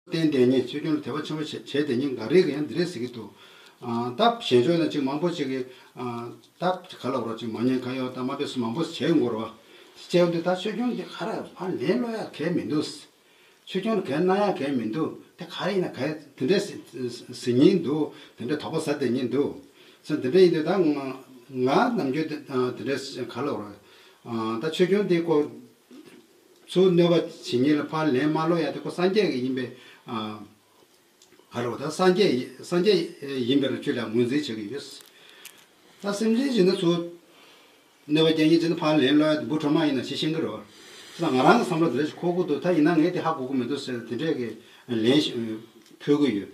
རྟེན་དེ་ཉིད་ཚུལ་ཁྲིམས་ལ་དད་པ་ཆེན་པོ་བྱེད་བྱེད་དེ་ཉིད་འགའ་རེས་ཡང་འདི་རེ་ཟེར་གྱི་འདུག། ད་གཞན་ཕྱོགས་ན་ཅིག་མང་པོ་ཅིག་གིས། ད་ག་ལ་བོར་ཅིག་མ་ཉན་ཁ་ཡོག་ད་མ་བེད་སོ་མང་པོ་བྱེད་འགོར་བ། བྱེད་འདུག་ད་ཆོས་སྐྱོང་འདི་ག་རེ་བར་ལན་སློག་ཡག་གལ་མི་འདུག། ཆོས་སྐྱོང་ལ་གལ་གནང་ཡག་གལ་མི་འདུག་དེ་ག་རེ་ཡིན་ན་གལ་དེ་འདྲའི་ཟིན་ཉིན་འདུག་དེ་འདྲའི་དོགས་པ་ཟ་དེ་ཉིན་འདུག། ཚུལ་དེ་འདྲ་ཡིན་དུས་ད་ང་ནམ་རྒྱུན་དེ་འདྲའི་ག་ལ་བོར། ད་ཆོས་སྐྱོང་འདིའི་སྐོར། སུ་གནོད་པ་ཇི་སྙེད་ལ་ཕར་ལན་མ་སློག་ཡ་དེ་ཁོ་སངས་རྒྱས་ཀྱི་ཡིན་པའི་བར་རོ། ད་སངས་རྒྱས་ཡིན་པའི་ར་ཆོད་ལ་ངོས་འཛིན་བྱེད་ཀྱི་ཡོད། ད་སེམས་ཅན་ཇི་ན་སུ་གནོད་པ་ཇི་སྙེད་ཅི་ན་ཕར་ལན་སློག་ཡ་དེ་འབུ་ཕྲ་མ་ཡིན་ན་ཞེས་ཤེས་ཀྱི་རོ། ད་ང་རང་གི་བསམ་བློ་དེ་འདྲ་ཞིག་ཁོ་དགོས་འདུག་ད་ཡིན་ན་ངས་དེ་ཧ་གོ་གི་མི་འདུག་ཟེར་ཏེ་དེ་འདྲའི་ལན་ཞིག་ཕུལ་གྱི་ཡོད།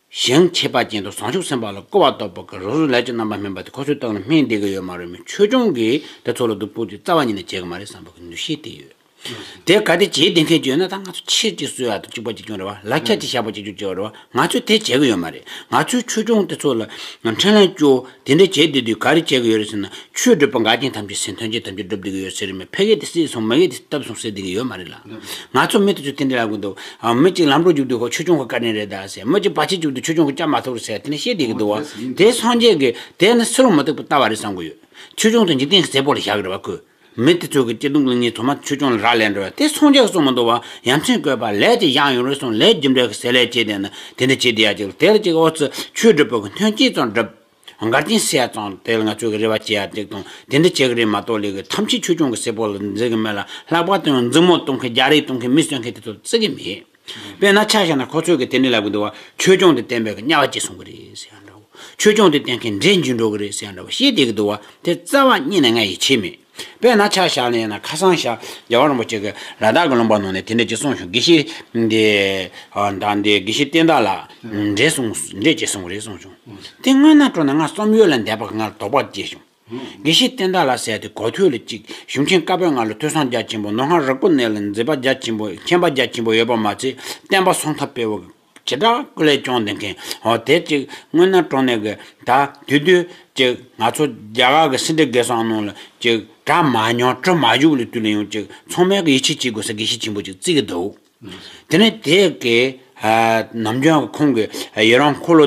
གཞན་ཁྱད་པར་ཅན་དུ་བཟང་ཕྱོགས་སེམས་དཔའ་ལ་བསྐོ་བ་གཏོགས་པ་གི་རོ་སོལ་ལས་ཀྱི་རྣམ་པ་སྨིན་པ་དེ་ཁོ་ཚོའི་སྟོབས་ལ་སྨིན་བསྡད་ཀྱི་ཡོད་མ་རེད་མོད་ཆོས་སྐྱོང་གིས་དེ་ཚོ་ལ་སྡུག་པོ་དེ་རྩ་བ་ཉིད་ནས་བྱས་ཀྱི་མ་རེད་བསམ་པ་གི་འདུ་ཤེས་དེ་ཡོད། དེ་ག་དེ་བྱས་བསྡད་མཁན་ཅིག་ཡོད་ན་ད་ང་ཚོ་ཕྱིར་ཅིག་གསོད་ཡ་དང་གཅིག་པ་གཅིག་སྐྱོང་རེད་བ་ལ་ཁྱ་གཅིག་ཞགས་པ་གཅིག་གཅོད་ཅེས་བ་རེད་བ་ང་ཚོས་དེ་བྱས་ཀྱི་ཡོད་མ་རེད་ང་ཚོས་ཆོས་སྐྱོང་དེ་ཚོ་ལ་འཕྲིན་ལན་བསྐྱོ་དེ་འདྲ་བྱས་དེ་དུས་ག་རེ་བྱེད་ཀྱི་ཡོད་རེད་ཟེར་ན་ཆོས་སྒྲུབ་པ་འགའ་རྐྱེན་ཐམས་ཅད་ཟིན་ཐོན་རྗེས་དམ་ཆོས་སྒྲུབ་བསྡད་ཀྱི་ཡོད་ཟེར་རེད་མོད་ཕལ་སྐད་དེ་སྲིད་སོང་མི་སྐད་དེ་སྟབས་སོང་ཟེར་བསྡད་ཀྱི་ཡོད་མ་རེད་ལ། ང་ཚོ་མི་དེ་ཚོ་དེ་འདྲ་ལབ་ཀྱི་འདུག་ཨ། མི་གཅིག་ལམ་འགྲོ་རྒྱུག་དུས་ཧོ་ཆོས་སྐྱོང་ཁོ་བཀའ་དྲིན་རེད་ད་ཟེར་མི་གཅིག་བར་ཆད་བྱུང་དུས་ཆོས་སྐྱོང་ཁོ་སྐྱབས་མ་ཐུབ་རེད་ཟེར་དེ་འདྲ་བཤད་བསྡད་ཀྱི་འདུག་དེ་སངས་རྒྱས་ཀྱི་དེ་ནི་སུ་རང་མི་སྡུག་པ་ལྟ་བ་རེད་བསམ་གྱི་ཡོད། ཆོས་སྐྱོང་དང་འཇིག་རྟེན་གྱི་རྩེ་ཕོག་ལ་བཞག་གི་རེད་བ་ཁོས། མི་དེ་ཚོ་གི་སྐྱིད་སྡུག་གླིང་གཉིས་དུ་མ་ཆོས་སྐྱོང་ལ་རག་ལས་འགྲོ་བས་དེ་ཚོང་རྒྱག་གི་སོང་མི་འདུག་བ་ཡ་མཚན་བཀོད་པ་ལས་དེ་བཞག་ཡོང་རེ་སོང་ལས་རྒྱུ་འབྲས་ཀྱི་ཟས་ལས་བྱེད་བསྡད་ན་དེ་འདྲ་བྱེད་བསྡད་ཡ་གཅིག་ལ་དེ་ལ་གཅིག་ཨོ་ཙི་ཆོས་སྒྲུབ་པོ་གི་མཐུན་རྐྱེན་ཙང་བསྒྲུབ། མགར་རྐྱེན་བསལ་ཙང་དེ་ལ་ང་ཚོས་གི་རེ་བ་བྱེད་ཡ་གཅིག་དང་དེ་འདྲ་བྱེད་གི་རེད་མ་གཏོགས་ལས་གི་ཐམས་ཅད་ཆོས་སྐྱོང་གི་སྲས་པོ་ལ་འཛིན་གི་མེད་ལ་ལྷག་པར་དུ་ཡང་འཛིང་མོ་གཏོང་མཁན་རྒྱ་རིགས་གཏོང་མཁན་མི་གསོད་མཁན་དེ་ཚོ་ལ་བརྩི་གི་མེད། དཔེར་ན་ཆ་བཞག་ན་ཁོ་ཚོས་གི་དེ་འདྲའི་ལབ་གི་འདུག་བ་ཆོས་སྐྱོང་དེ་བསྟན་པའི་གི་དམྱལ་བ་སྐྱེས་སོང་གི་རེད་ཟེར་ཡང་འདྲ་བོ། ཆོས་སྐྱོང་དེ་བསྟན་མཁན་འདྲེ་འཇུ་འགྲོ་གི་རེད་ཟེར་ཡང་འདྲ་བོ་ཤེས་བསྡད་གི་འདུག་བ་དེ་རྩ་བ་རྙེད་ནས་ང་ཡིད་ཆེས་མེད། དཔེར་ན་ཆ་བཞག་ན་ཡང་ན་ཁ་སང་ཤར་རྒྱལ་བ་རིན་པོ་ཆེ་གི་ར་དག་གི་ལུང་པར་ནང་ནས་དེ་འདྲས་ཀྱི་གསུངས་བྱུང་དགེ་བཤེས་འདི་དང་འདི་དགེ་བཤེས་བསྟན་དག་ལ་འདྲེ་སོང་འདྲེ་སྐྱེས་སོང་གི་རེད་གསུངས་བྱུང་དེ་དངོས་ན་སྤྲོ་ན་ང་རྩོམ་ཡོད་ལ་འདས་པ་གི་ང་ལ་དོགས་པ་སྐྱེས་བྱུང། དགེ་བཤེས་བསྟན་བདག་ལ་ཟེར་ཏེ་གོ་ཐོས་ལ་ཅིག་གཞུང་ཆེན་བཀའ་པོད་ལྔ་ལ་ཐོས་བསམ་རྒྱ་ཆེན་པོ་ནོར་ལྷ་རག་པོ་གནས་ལ་མཛེས་པ་རྒྱ་ཆེན་པོ་མཁྱེན་པ་རྒྱ་ཆེན་པོ་ཡོད་པ་མ་ཚད་བསྟན་པ་སྲོང་ཐབས་སྤེལ་བ་བྱེ་བྲག་སྐུ་ལས་སྐྱོང་འདི་མཁན་འོ་དེ་ཅིག་སྔོན་ན་གྲོང་ནས་གི་ད་དུས་དུས་ཅིག་ང་ཚོ་རྒྱ་གར་གི་སེ་འབྲས་དགེ་སོགས་གནང་ལ་ཅིག་གྲ་མ་མྱོང་དྲི་མ་བཞུགས་ལ་དུས་ལ་ཡོང་ཅིག་ཚང་མས་གི་ཡིད་ཆེས་བྱེད་དགོས་ས་དགེ་བཤེས་ཆེན་པོ་ཅིག་བརྩིས་གི་འདུག། དེ་ནས་དེས་ཀྱིས་ནམ་རྒྱུན་ཁོང་གི་ཡི་རང་འཁོར་ལོ་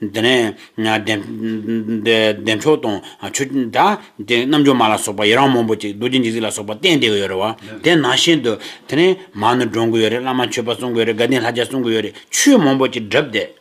དེ་ནས་བདེ་མཆོག་དང་ཆོས་རྒྱལ་དང་རྣལ་འབྱོར་མ་ལ་སོགས་པ་ཡི་རང་མང་པོ་ཅིག་རྡོ་རྗེ་འཇིགས་བྱེད་ལ་སོགས་པ་བསྟན་བསྡད་ཀྱི་ཡོད་རེད་བ་དེ་ནང་བཞིན་དུ་དེ་ནས་མར་ནུ་སྒྲོན་གྱི་ཡོད་རེད་བླ་མ་མཆོད་པ་གསུང་གི་ཡོད་རེད་དགའ་ལྡན་ལྷ་བྱ་གསུང་གི་ཡོད་རེད་ཆོས་མང་པོ་ཅིག་བསྒྲུབས་བསྡད།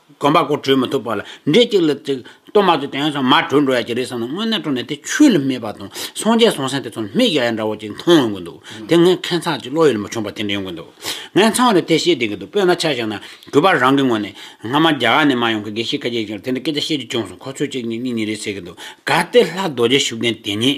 དགོན་པ་སྒོ་གྲོལ་མི་ཐུབ་པ་ལ་འདྲེ་གཅིག་ལ་གཅིག་གཏོར་མ་ཚུལ་དེ་ཡོང་ཙང་མར་གྲོལ་འགྲོ་ཡ་གྱི་རེད་བསམ་ནས་དངོས་གནས་སྤྲོ་ནས་དེ་ཆོས་ལ་སྨད་པ་དང་སངས་རྒྱས་སོང་སེང་དེ་ཚོར་མིག་ཡ་ཡ་འདྲ་བོ་ཅིག་མཐོང་ཡོང་གི་འདུག་དེ་ངས་མཁས་མཚག་ཅིག་བློ་ཡུལ་མ་ཆོངས་པ་དེ་འདྲ་ཡོང་གི་འདུག་ངས་མཚང་རེ་དེ་བཤད་བསྡད་ཀྱི་འདུག་དཔེར་ན་ཆ་བཞག་ན་གུས་པ་རང་གི་ངོ་ནས་སྔ་མ་རྒྱ་གར་ནས་མ་ཡོང་གི་དགེ་བཤེས་ཁ་ཆེ་ཞིག་ལ་དེ་འདྲ་སྐད་ཆ་བཤད་རྒྱུ་བྱུང་སོང་ཁོ་ཚོས་གཅིག་གཉིས་གཉིས་གཉིས་རེ་ཟེར་གྱི་འདུག་གཱ་དེ་ལྷ་རྡོ་རྗེ་ཤུགས་ལྡན་དེ་ཉིད